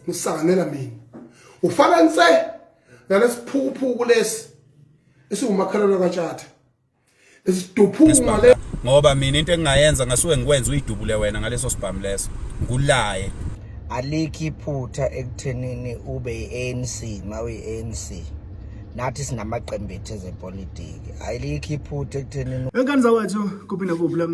ngisanganela mina ufana nse nalesiphukuphuku lesi esiwumakhelwane katshatha esiduphuma le ngoba mina into engingayenza ngasuke ngikwenza uyidubule wena ngaleso sibhamu leso ngulaye alikho iphutha ekuthenini ube i-ANC mawuyi-ANC nathi sinamaqembu ethu ezepolitiki ayilikho iphutha ekuthenini engane zawethu kuphi nakuphi la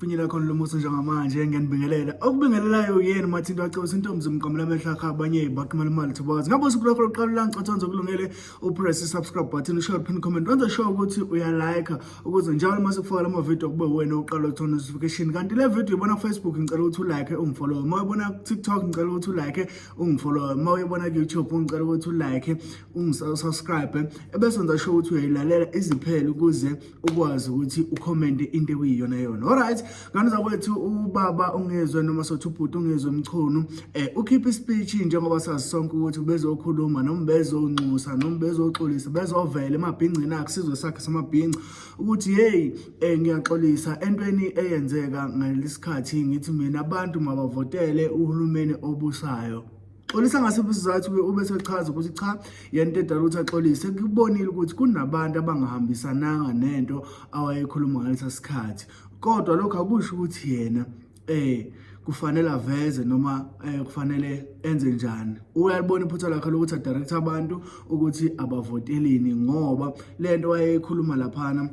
Finyela khona lo muso njengamanje ngiyanibingelela okubingelelayo yena mathinto acebisa intombi zimqamela amehlo akhe abanye baqhumela imali thobazi ngabe usuku lwakho lokuqala ulangicothanza okulungele upress i-subscribe button ushaye pin comment wenze sure ukuthi uyalike ukuze njalo uma sikufaka lama video kube wena uqala ukuthola notification kanti le video ibona kufacebook ngicela ukuthi ulike ungifollowe uma uyibona kutiktok ngicela ukuthi ulike ungifollowe uma uyibona kuyoutube ngicela ukuthi ulike ungisubscribe ebese wenza sure ukuthi uyayilalela iziphele ukuze ukwazi ukuthi ukhomente into ekuyiyona yona alright ngane zakwethu ubaba ungezwe noma sothi ubhuti ungezwe mchunu um eh, ukhiphe ispeech njengoba sazi sonke ukuthi ubezokhuluma noma bezonxusa noma bezoxolisa bezovela emabhingcini akhe sizwe sakhe samabhinci ukuthi yeyi um ngiyaxolisa entweni eyenzeka ngalesikhathi ngithi mina abantu mabavotele uhulumeni obusayo Xolisa ngasiphi isizathu ke ube sechaza ukuthi cha yena edala ukuthi axolise kubonile ukuthi kunabantu abangahambisananga nento awayekhuluma ngalesa sikhathi kodwa lokho akusho ukuthi yena eh kufanele aveze noma eh kufanele enze njani uyalibona iphutha lakhe lokuthi adirect abantu ukuthi abavotelini ngoba lento wayekhuluma laphana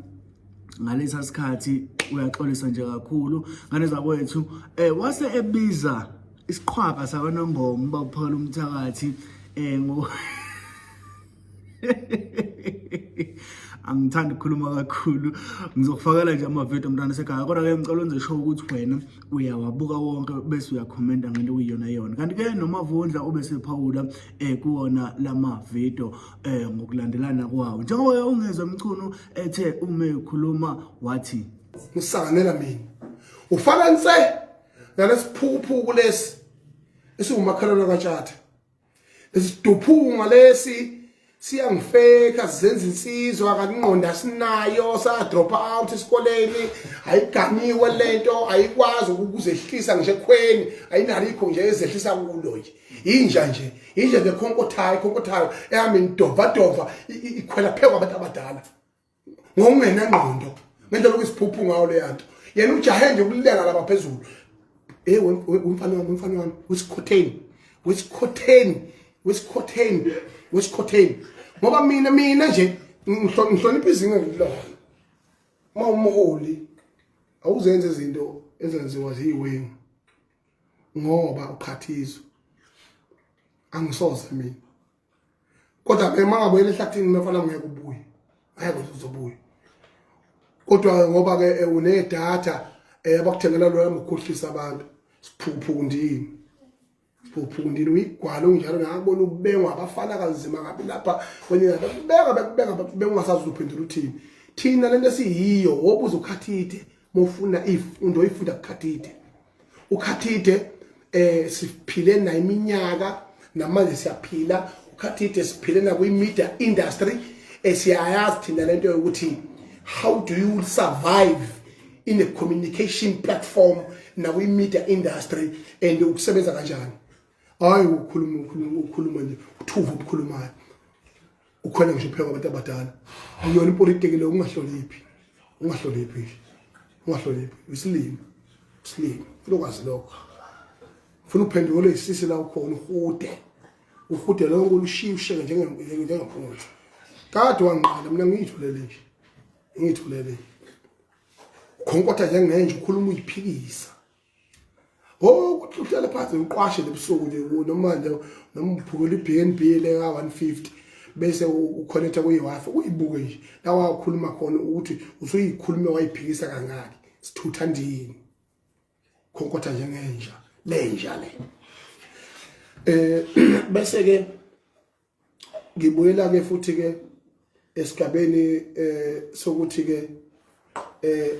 ngalesa sikhathi uyaxolisa nje kakhulu ngane zakwethu eh wase ebiza isiqhwaga sakwanongoma uba uphola umthakathi um ngo angithandi ukukhuluma kakhulu ngizokufakela nje amavidiyo mntwana sekhaya kodwa-ke ngicela wenze show ukuthi wena uyawabuka wonke bese uyakhomenta ngento okuyiyona yona kanti-ke nomavundla obesephawula um eh, kuwona la mavidiyo um eh, ngokulandelana kwawo njengoba ungezwa mchunu ethe ume ukhuluma wathi ngisanganela mina ufananise nalesiphukuphuku lesi esiwumakhelwane katshatha lesiduphunga lesi siyangifeka sizenza insizwa kaningqondo asinayo sa-drop out esikoleni ayiganiwe le nto ayikwazi ukuzehlisa ngisho ekhweni ayinalikho nje ezehlisa kulo nje yinja nje yinja nje khonkothayo khonkothayo ehambe nidovadova ikhwela pheku abantu abadala ngokungenengqondo ngendlela okuyisiphuphu ngawo leya nto yena ujahe nje ukuleka laba phezulu hey umfana wami umfana wami wesikhotheni wesikhotheni wesikhotheni wesikhotheni ngoba mina mina nje ngihlonipha izinga ngilona uma umholi awuzenze izinto ezenziwa ziyiwengu ngoba uqhathizwe angisoze mina kodwa ke mangabuyela ehlathini mefana ngeke ubuye ngeke uzobuya kodwa ngoba ke eh, unedatha eh, abakuthengela lona ngokukhohlisa abantu siphuphundini siphuphundini uyigwala unjalo ngakubona ubengwa abafana kanzima ngabi lapha kwenye lapha kubeka bekubeka bekubeka ungasazi uphendula uthini thina lento esiyiyo wobuza ukhathide mofuna ifundo ifunda kukhathide ukhathide eh siphile na iminyaka namanje siyaphila ukhathide siphile na kwi media industry esiyayazi thina lento yokuthi how do you survive in a communication platform na kwi media industry and ukusebenza kanjani hayi ukhuluma ukhuluma ukhuluma nje uthuva ukukhuluma ukhwele ngisho phela kwabantu abadala ayona ipolitiki leyo ungahloniphi ungahloniphi ungahloniphi isilima isilima funa ukwazi lokho funa uphenduke ole isisi la ukhona uhude uhude lonke ulushiye usheke njengephunguthi kade wangiqala mina ngiyithulele nje ngiyithulele khonkotha njengenje ukhuluma uyiphikisa Oh ukuthi uhlale phansi uqwashe lebusuku nje noma nje noma uphukela iBNB le ka 150 bese uconnecta kuyiWiFi uyibuke nje la wakhuluma khona ukuthi usuyikhulume wayiphikisa kangaki sithutha ndini khonkotha njengenja lenja le eh bese ke ngibuyela ke futhi ke esigabeni eh sokuthi ke eh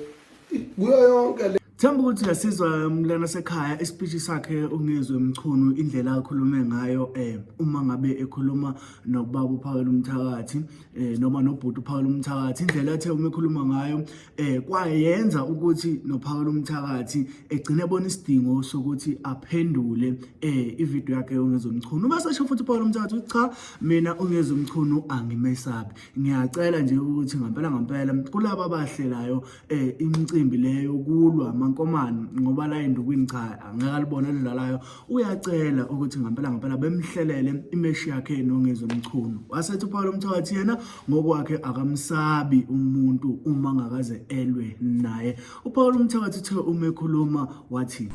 kuyo yonke le Themba ukuthi ngasizwa umlana sekhaya ispeech sakhe ungizwe mchunu indlela akhulume ngayo eh uma ngabe ekhuluma nobaba uphakela umthakathi eh noma nobhuti uphakela umthakathi indlela athe uma ekhuluma ngayo eh kwayenza ukuthi noPhawula umthakathi egcine ebona isidingo sokuthi aphendule eh ivideo yakhe yongezomchunu uma sasho futhi uPhawula umthakathi uthi cha mina ongezomchunu angimesabi ngiyacela nje ukuthi ngampela ngampela kulabo abahlelayo eh imicimbi leyo kulwa mankomani ngoba la endukwini cha angeke alibona lidlalayo uyacela ukuthi ngampela ngampela bemhlelele imeshi yakhe nongezomchunu wasethi uPhawula umthakathi yena ngokwakhe akamsabi umuntu uma ngakaze elwe naye uPaul umthakathi uthe uma ekhuluma wathi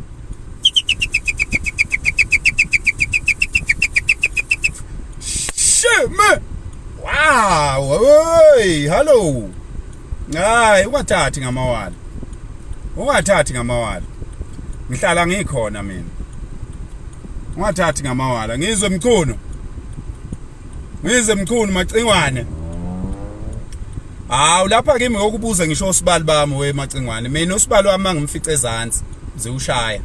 Sheme wow hey hello hayi ungathathi ngamawala ungathathi ngamawala ngihlala ngikhona mina ungathathi ngamawala ngizwe mchuno Ngize mchunu macingwane. Hawu lapha kimi ngokubuza ngisho osibali bami we macingwane. Mina osibali wami ngimfice ezantsi ziwushaya.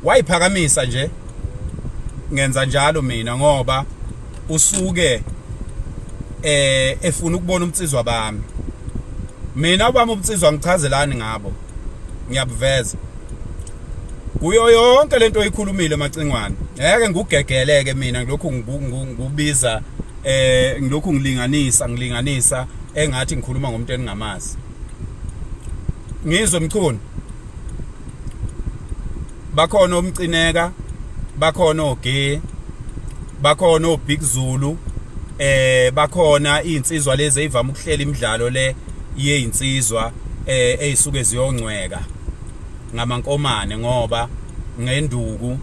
Wayiphakamisa nje. Ngenza njalo mina ngoba usuke eh efuna ukubona umtsizwa bami. Mina ubami umtsizwa ngichazelani ngabo. ngiyabuveza kuyo yonke lento oyikhulumile macingwane ngeke ngugegeleke mina ngilokhu ngubiza eh ngilokhu ngilinganisa ngilinganisa engathi ngikhuluma ngomuntu eningamazi ngizwe mchunu bakhona omcineka bakhona oge bakhona obig zulu eh bakhona izinsizwa lezi ezivama ukuhlela imidlalo le yezinsizwa eh ezisuke ziyongcweka ngamankomane ngoba ngenduku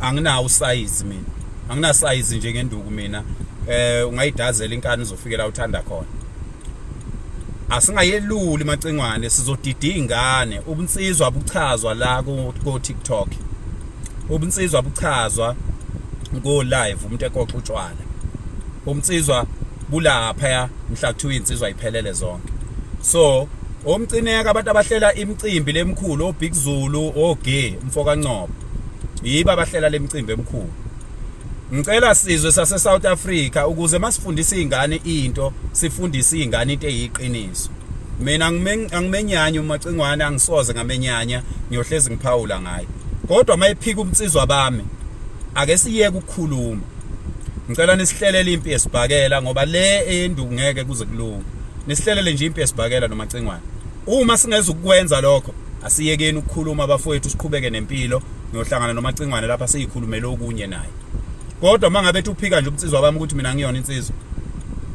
anginawo usize mina angina size nje ngenduku mina eh ungayidazela inkani uzofikela uthanda khona asingayeluli macingwane sizodida ingane ubunsizwa buchazwa la ku TikTok ubunsizwa buchazwa ngo live umuntu ekoxa utshwala umnsizwa bulapha ya mhla kuthiwa insizwa iphelele zonke so omcineka abantu abahlela imicimbi lemkhulu obig zulu oge mfoka ncobo yiba abahlela lemicimbi emkhulu Ngicela sizwe sase South Africa ukuze masifundisa izingane into sifundise izingane into eyiqiniso. Mina angimenyanya umacingwane angisoze ngamenyanya ngiyohlezi ngiphawula ngaye. Kodwa mayiphika umnsizwa bami ake siyeke ukukhuluma. Ngicela nisihlelele impi yesibhakela ngoba le enduku ngeke kuze kulunge. Nisihlelele nje impi yesibhakela nomacingwane. Uma singeza ukwenza lokho asiyekeni ukukhuluma bafowethu siqhubeke nempilo ngiyohlangana nomacingwane lapha siyikhulumele okunye naye kodwa uma ngabe uphika nje umnsizwa wami ukuthi mina ngiyona insizwa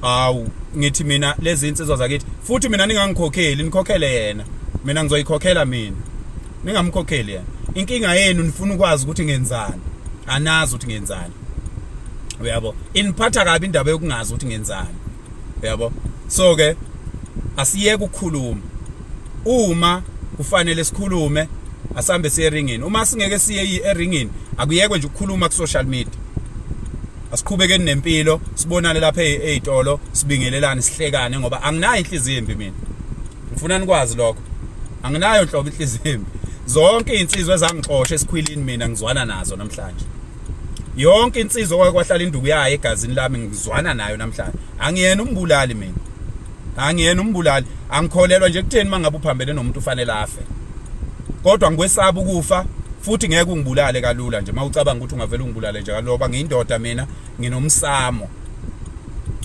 awu ngithi mina lezi insizwa zakithi futhi mina ningangikhokheli nikhokhele yena mina ngizoyikhokhela mina ningamkhokheli yena inkinga yenu nifuna ukwazi ukuthi ngenzani anazi ukuthi ngenzani uyabo iniphatha kabi indaba yokungazi ukuthi ngenzani uyabo so ke asiyeke ukukhuluma uma kufanele sikhulume asambe siye eringini uma singeke siye eringini akuyekwe nje ukukhuluma ku social media asiqhubekeni nempilo sibonane lapha ezitolo sibingelelane sihlekane ngoba anginayo inhliziyo embi mina ngifuna nikwazi lokho anginayo nhlobo inhliziyo embi zonke izinsizwa ezangixosha esikhwilini mina ngizwana nazo namhlanje yonke insizwa kwahlala induku yayo egazini lami ngizwana nayo namhlanje angiyena umbulali mina angiyena umbulali angikholelwa nje kutheni mangabe uphambene nomuntu ufanele afe kodwa ngikwesaba ukufa futhi ngeke ungibulale kalula nje mawucabanga ukuthi ungavela ungibulale nje kaloba ngiyindoda mina nginomsamo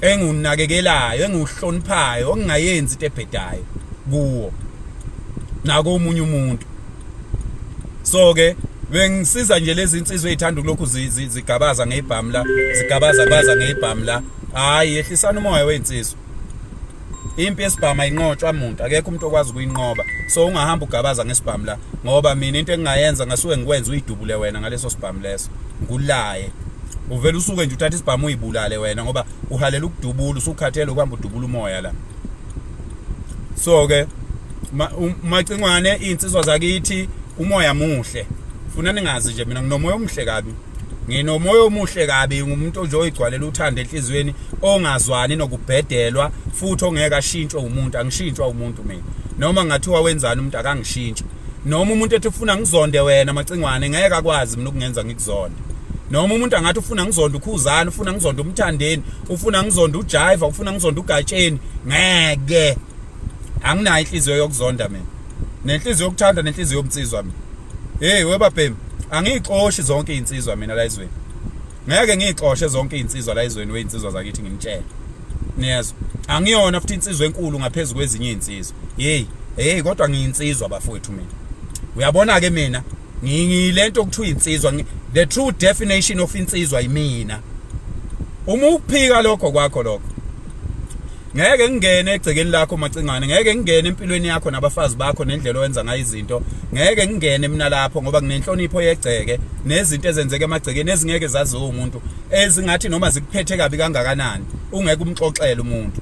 engunakekelayo enguhloniphayo ongingayenzi into ebhedayo kuwo nako umunye umuntu so ke bengisiza nje lezi insizwe ezithanda ukulokhu zigabaza ngebhamu la zigabaza baza ngebhamu la hayi yehlisana umoya wezinsizwa impi yesibhamu ayinqotshwa muntu akekho umuntu okwazi ukuyinqoba so ungahamba ugabaza ngesibhamu la ngoba mina into engingayenza ngasuke ngikwenza uyidubule wena ngaleso sibhamu leso ngulaye uvele usuke nje uthatha isibhamu uyibulale wena ngoba uhalela ukudubula usukhathele ukuhamba udubula umoya la so ke umacingwane insizwa zakithi umoya muhle funa ningazi nje mina nginomoya omuhle kabi nginomoya omuhle kabi ngumuntu nje oyigcwalela uthando enhliziyweni ongazwani nokubhedelwa futhi ongeke ashintshwe umuntu angishintshwa umuntu mina noma ngathiwa wenzani umuntu akangishintshi noma umuntu ethi ufuna ngizonde wena macingwane ngeke akwazi mina ukungenza ngikuzonde noma umuntu angathi ufuna ngizonda ukhuzana ufuna ngizonda umthandeni ufuna ngizonda ujiva ufuna ngizonda ugatsheni ngeke anginayo inhliziyo yokuzonda mina nenhliziyo yokuthanda nenhliziyo yomnsizwa mina hey webabhemi angiyixoshi zonke izinsizwa mina la izweni ngeke ngiyixoshe zonke izinsizwa la izweni wezinsizwa zakithi ngimtshele niyezwa angiyona futhi insizwa enkulu ngaphezulu kwezinye izinsizwa hey hey kodwa ngiyinsizwa bafowethu mina uyabona ke mina ngilento okuthiwa insizwa the true definition of insizwa yimina uma ukuphika lokho kwakho lokho ngeke ngingene egcekeni lakho macingane ngeke ngingene empilweni yakho nabafazi bakho nendlela owenza ngayo izinto ngeke ngingene mina lapho ngoba nginenhlonipho yegceke nezinto ezenzeka emagcekeni ezingeke zaziwe umuntu ezingathi noma zikuphethe kabi kangakanani ungeke umxoxele umuntu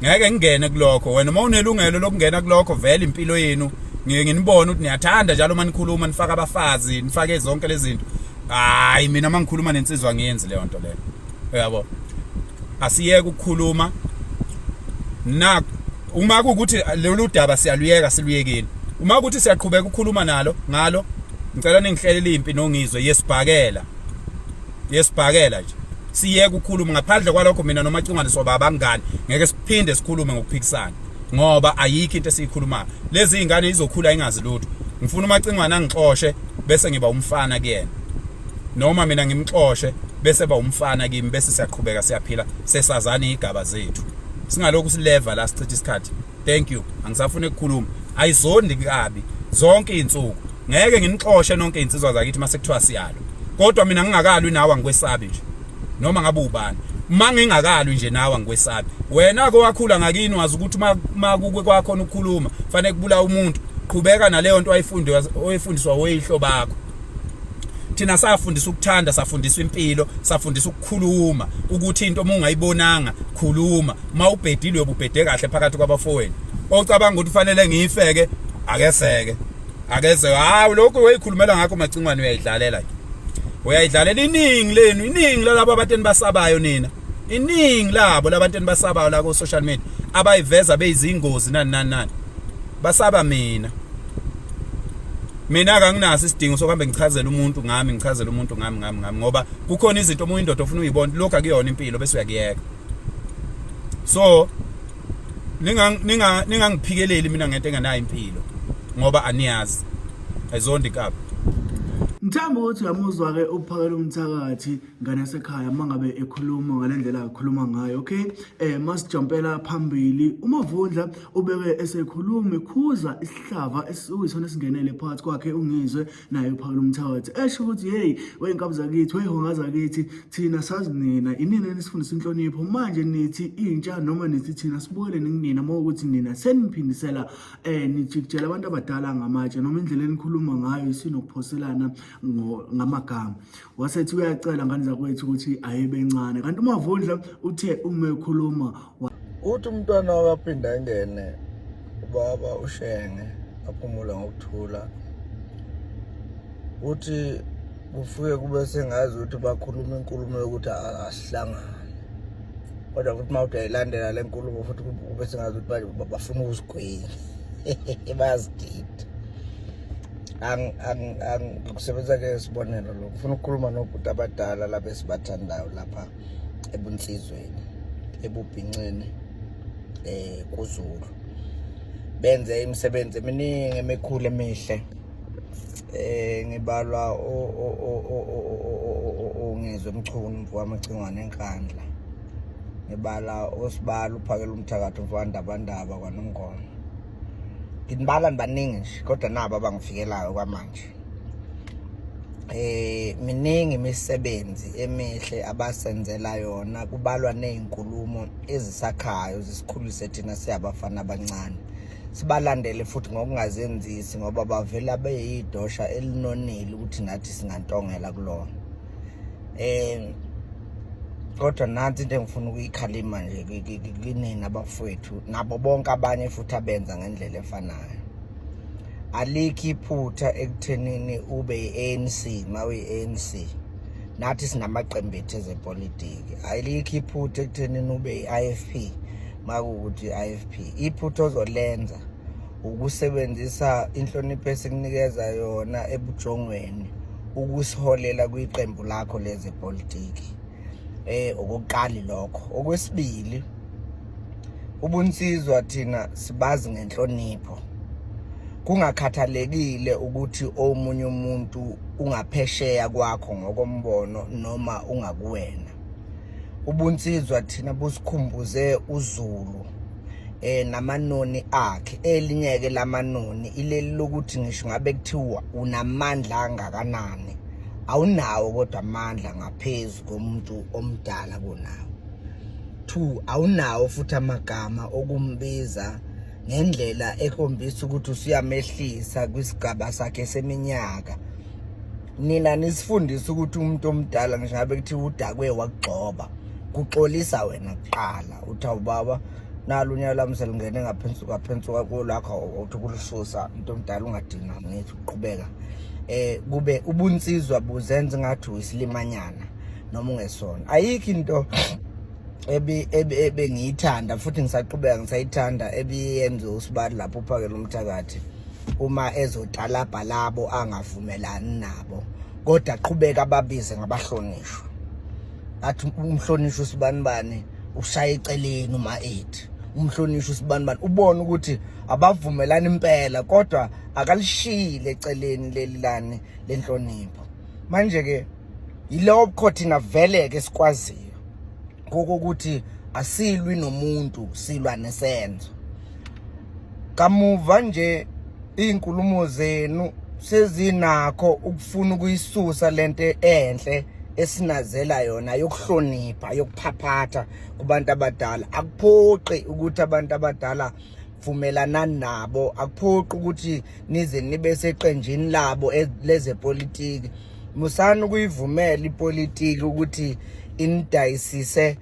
ngeke ngingene kulokho wena uma unelungelo lokungena kulokho vele impilo yenu ngiye nginibone ukuthi niyathanda njalo uma nikhuluma nifaka abafazi nifake zonke lezi zinto hayi mina uma ngikhuluma nensizwa ngiyenzi leyo nto leyo uyabo asiyeke ukukhuluma na uma kukuthi lolu daba siyaluyeka siluyekile uma kuthi siyaqhubeka ukukhuluma nalo ngalo ngicela ningihlelele impi nongizwe yesibhakela yesibhakela nje siyeke ukukhuluma ngaphandle kwalokho mina nomacungane soba abangani ngeke siphinde sikhulume ngokuphikisana ngoba ayikho into esiyikhulumayo lezi zingane izokhula ingazi lutho ngifuna umacingwane angixoshe bese ngiba umfana kuyena noma mina ngimxoshe bese ba umfana kimi bese siyaqhubeka siyaphila sesazane igaba zethu singalokhu sileva la sichitha isikhathi thank you angisafuni ukukhuluma ayizondi kabi zonke izinsuku ngeke nginixoshe nonke insizwa zakithi mase kuthiwa siyalo kodwa mina ngingakalwi nawe ngikwesabi nje noma ngabe ubani uma ngingakalwi nje nawe ngikwesabi wena ko wakhula ngakini wazi ukuthi uma kukwe kwakho ukukhuluma fanele kubula umuntu qhubeka naleyo nto oyifunde oyifundiswa oyihlo bakho thina safundisa ukuthanda safundisa impilo safundisa ukukhuluma ukuthi into uma ungayibonanga khuluma uma ubhedilwe ububhede kahle phakathi kwabafowenu ocabanga ukuthi ufanele ngiyifeke akeseke akeze hawu lokhu uyoyikhulumela ngakho macingwane uyayidlalela ke uyayidlalela iningi lenu iningi lalabo abantu enibasabayo nina iningi labo labantu enibasabayo la ku social media abayiveza beyizingozi nani nani nani basaba mina mina kanginaso isidingo sokuhambe ngichazela umuntu ngami ngichazela umuntu ngami ngami ngami ngoba kukhona izinto omunye indoda ofuna uyibona lokho akuyona impilo bese uyakuyeka so ninga ninga ningangiphikeleli mina ngento engenayo impilo ngoba aniyazi ayizondi kabi Ngithanda ukuthi uyamuzwa ke ukuphakela umthakathi ngane yasekhaya uma ngabe ekhuluma ngale ndlela akhuluma ngayo okay eh masijampela phambili umavundla ubeke esekhuluma ekhuza isihlava esiyisona esingenele phakathi kwakhe ungizwe naye uphakela umthawathi esho ukuthi hey weyinkabi zakithi weyihonga zakithi thina sazi nina inina enisifundisa inhlonipho manje nithi intsha noma nithi thina sibukele nikunina uma ukuthi nina seniphindisela eh nijikijela abantu abadala ngamatshe noma indlela enikhuluma ngayo isinokuphoselana ngamagama wasethi uyacela ngane zakwethu ukuthi ayibe ncane kanti umavundla uthe uma ekhuluma uthi umntwana wakaphinde angene ubaba ushenge aphumula ngokuthula uthi kufuke kube sengazi ukuthi bakhuluma inkulumo yokuthi asihlangane kodwa futhi uma uthi ayilandela le nkulumo futhi kube sengazi ukuthi bafuna ukusigwinya bayazidida ngikusebenza ke isibonelo lo ngifuna ukukhuluma nobhuti abadala laba esibathandayo lapha ebunsizweni ebubhinxini eh kuzulu benze imisebenzi eminingi emikhulu emihle eh ngibalwa ongizwe mchunu mfowamacingwane enkandla ngibala osibala uphakela umthakathi mfowandabandaba kwanongoma nginibala nibaningi nje kodwa nabo abangifikelayo kwamanje eh miningi imisebenzi emihle abasenzela yona kubalwa nezinkulumo ezisakhayo zisikhulise thina siyabafana abancane sibalandele futhi ngokungazenzisi ngoba bavela beyidosha elinonile ukuthi nathi singantongela kulona um kodwa nansi into engifuna ukuyikhalima nje kinina abafowethu nabo bonke abanye futhi abenza ngendlela efanayo alikho iphutha ekuthenini ube i-anc ma uyi-anc nathi sinamaqembu ethu ezepolitiki alikho iphutha ekuthenini ube i-ifp makuwukuthi i-ifp iphutha ozolenza ukusebenzisa inhlonipho esikunikeza yona ebujongweni ukusiholela kwiqembu lakho lezepolitiki eh okokuqali lokho okwesibili ubunsizwa thina sibazi ngenhlonipho kungakhathalekile ukuthi omunye umuntu ungaphesheya kwakho ngokombono noma ungakuwena ubunsizwa thina busikhumbuze uzulu eh namanoni akhe elinyeke lamanoni ileli lokuthi ngisho ngabe kuthiwa unamandla angakanani awunawo kodwa amandla ngaphezulu komuntu omdala kunawo two awunawo futhi amagama okumbiza ngendlela ekhombisa ukuthi usiyamehlisa kwisigaba sakhe seminyaka nina nisifundisa ukuthi umuntu omdala ngisho ngabe kuthiwa udakwe wakugxoba kuxolisa wena kuqala uthi awubaba nalo unyaka lami selingene ngaphensi kwaphensi kwako lakho uthi kulususa umuntu omdala ungadinga ngithi uqhubeka eh kube ubunsizwa buzenza ngathi uyisilimanyana noma ungesona ayikho into ebi ebengiyithanda futhi ngisaqhubeka ngisayithanda ebiyenze usibali lapho uphakela umthakathi uma ezotalabha labo angavumelani nabo kodwa qhubeka ababize ngabahlonishwa athi umhlonishwa usibanibani ushaya eceleni uma ethi umhlonishwa usibanibani ubona ukuthi abavumelani impela kodwa akalishile eceleni leli lani lenhlonipho manje ke yilowo bukhothinga vele ke sikwaziyo kokuthi asilwi nomuntu silwa nesenzo kamuva nje izinkulumo zenu sezinakho ukufuna ukuyisusa lento enhle esinazela yona yokuhlonipha yokuphaphatha kubantu abadala akuphoqi ukuthi abantu abadala vumelana nabo akuphoqi ukuthi nize nibe seqenjini labo e, lezepolitiki musani ukuyivumela ipolitiki ukuthi inidayisise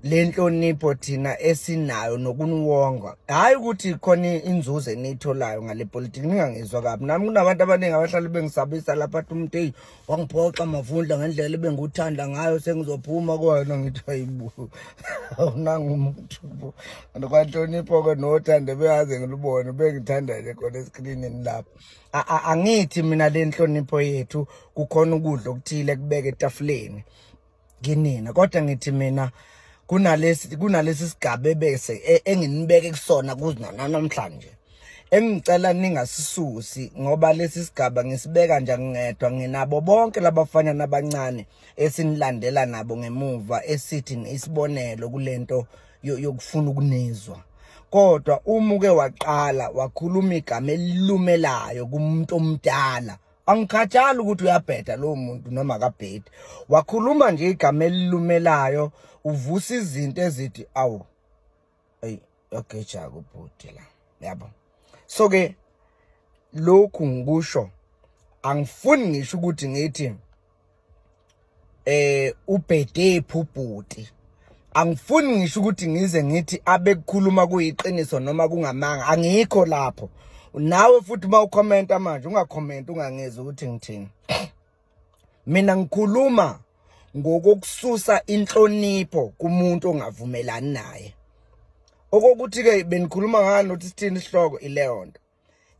le nhlonipho thina esinayo nokuniwonga hhayi ukuthi khona inzuzo eniyitholayo ngale politiki ningangizwa kabi nami kunabantu abaningi abahlale bengisabisa lapha athi umuntu eyi wangiphoxa mavundla ngendlela ebengikuthanda ngayo sengizophuma kona ngithi hayibo awunangumuntu bo and kwanhlonipho-ke nothande beyaze ngilubone bengithanda-ke khona eskrinini lapho angithi mina le nhlonipho yethu kukhona ukudla okuthile kubeke etafuleni kinina kodwa ngithi mina kunalesi kunalesi sigaba ebese e, enginibeke kusona kuzina namhlanje engicela ningasisusi ngoba lesi sigaba ngisibeka nje ngingedwa nginabo bonke labafana nabancane esinilandela nabo ngemuva esithi isibonelo kulento yokufuna ukunizwa kodwa uma uke waqala wakhuluma igama elilumelayo kumuntu omdala angikhathali ukuthi uyabheda lowo muntu noma akabhedi wakhuluma nje igama elilumelayo uvusa izinto ezithi awu eyi yagejaka ubhuti la yabo so ke lokhu ngikusho angifuni ngisho ukuthi ngithi eh ubhede phubhuti angifuni ngisho ukuthi ngize ngithi abekukhuluma kuyiqiniso noma kungamanga angikho lapho nawe futhi uma ukhomenta manje ungakhomenta ungangezi ukuthi ngithini mina ngikhuluma ngokukususa inhlonipho kumuntu ongavumelani naye okokuthi ke benikhuluma ngani nothi sithini isihloko ileyonto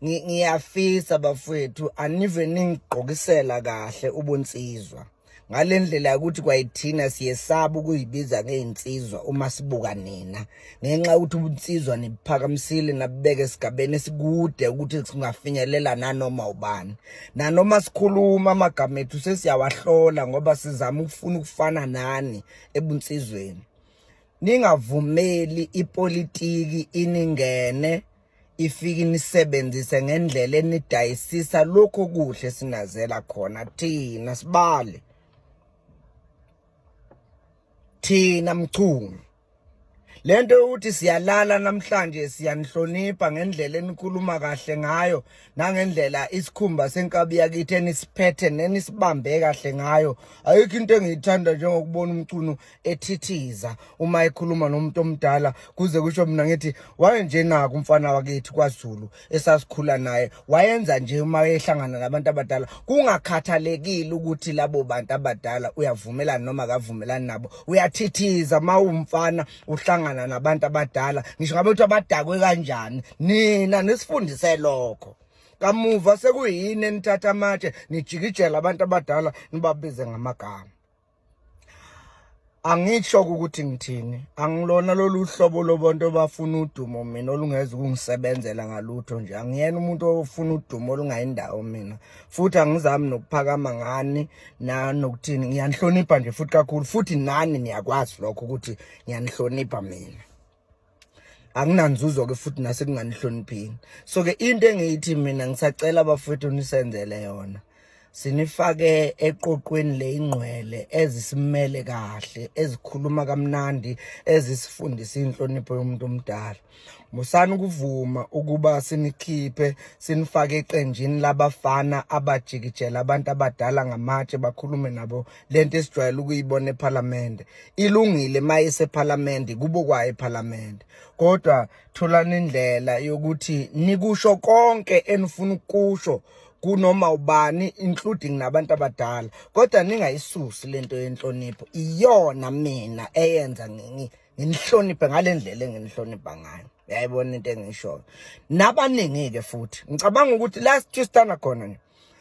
ngiyafisa bafowethu anive ningigqokisela kahle ubunsizwa ngale ndlela yokuthi kwayithina siyesaba ukuyibiza ngey'nsizwa uma sibuka nina ngenxa yokuthi ubunsizwa nibuphakamisile nabubeke esigabeni esikude ukuthi singafinyelela nanoma ubani nanoma sikhuluma amagama ethu sesiyawahlola ngoba sizama ukufuna ukufana nani ebunsizweni ningavumeli ipolitiki iningene ifike inisebenzise ngendlela enidayisisa lokho kuhle sinazela khona thina sibale thina mchungu lento yokuthi siyalala namhlanje siyanihlonipha ngendlela enikhuluma kahle ngayo nangendlela isikhumba senkabi yakithi enisiphethe nenisibambe kahle ngayo ayikho into engiyithanda njengokubona umcuno ethithiza uma ekhuluma nomuntu omdala kuze kusho mina ngithi wayenjenaka umfana wakithi kwaZulu esasikhula naye wayenza nje uma ehlangana nabantu abadala kungakhathalekile ukuthi labo bantu abadala uyavumelana noma akavumelani nabo uyathithiza uma umfana uhlangana nabantu abadala ngisho ngabe ukuthi abadakwe kanjani nina nisifundise lokho kamuva sekuyini enithatha amatshe nijikijela abantu abadala nibabize ngamagama Angisho ukuthi ngithini, angilona lolu hlobo lobantu obafuna udumo mina olungeza ukungisebenzela ngalutho nje. Angiyena umuntu ofuna udumo olungayindawo mina. Futhi angizami nokuphakama ngani na nokuthini. Ngiyanihlonipha nje futhi kakhulu futhi nani niyakwazi lokho ukuthi ngiyanihlonipha mina. akunanzuzo ke futhi nasekunganihloniphini so ke into engiyithi mina ngisacela bafethu nisenzele yona sinifake eqoqweni le ingqwele ezisimele kahle ezikhuluma kamnandi ezisifundisa inhlonipho yomuntu omdala musani ukuvuma ukuba sinikhiphe sinifake eqenjini labafana abajikijela abantu abadala ngamatshe bakhulume nabo lento esijwayele ukuyibona ephalamende ilungile uma isephalamende kubo kwayo ephalamende kodwa tholani indlela yokuthi nikusho konke enifuna ukusho kunoma ubani including nabantu abadala kodwa ningayisusi lento yenhlonipho iyona mina eyenza ngingi nginihloniphe ngale ndlela enginihlonipha ngayo yayibona into engishoyo nabaningi-ke futhi ngicabanga ukuthi last year sithanda khona nje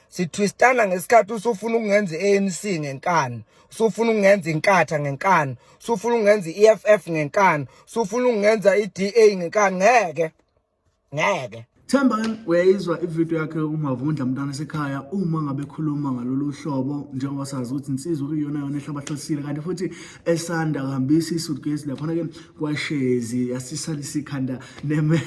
sithwistana ngesikhathi usufuna ukungenza i-ANC ngenkani usufuna ukungenza inkatha ngenkani usufuna ukungenza i-EFF ngenkani usufuna ukungenza i-DA ngenkani ngeke ngeke Themba uyayizwa ivideo yakhe umavundla mntana sekhaya uma ngabe khuluma ngalolu hlobo njengoba sazi ukuthi insizwa kuyiyona yona ehlabahlosile kanti futhi esanda kuhambisa i-suitcase laphana ke kwashezi yasisalisa ikhanda neme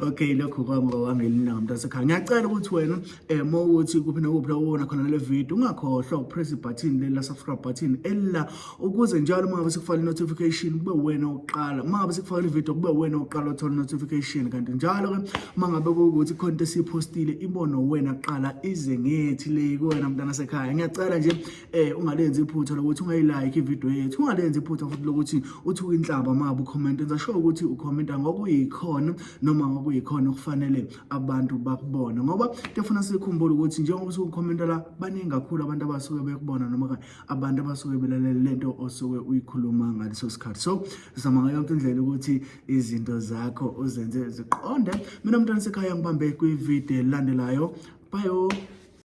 okay lokho kwamka wangelina ngamuntu asekhaya ngiyacela ukuthi wena eh mawuthi kuphi nokuphi lawona khona le video ungakhohlwa ukupress ibutton leli la subscribe button ella ukuze njalo mangabe sikufaka notification kube wena oqala mangabe sikufaka video kube wena oqala uthola notification kanti njalo ke mangabe ukuthi content sipostile ibono wena qala ize ngethi le kuwena mntana sekhaya ngiyacela nje eh ungalenzi iphutha lokuthi ungayilike ivideo yethu ungalenzi iphutha futhi lokuthi uthi uyinhlaba uma ucomment enza sure ukuthi ucomenta ngokuyikhona noma ngokuyikhona okufanele abantu bakubone ngoba kuyafuna sikhumbule ukuthi njengoba usuke ucomenta la baningi kakhulu abantu abasuke bekubona noma abantu abasuke belalele lento osuke uyikhuluma ngaleso sikhathi so sizama ngayo yonke indlela ukuthi izinto zakho uzenze ziqonde mina mntwana sekhaya ngibambe kwivideo elandelayo bayo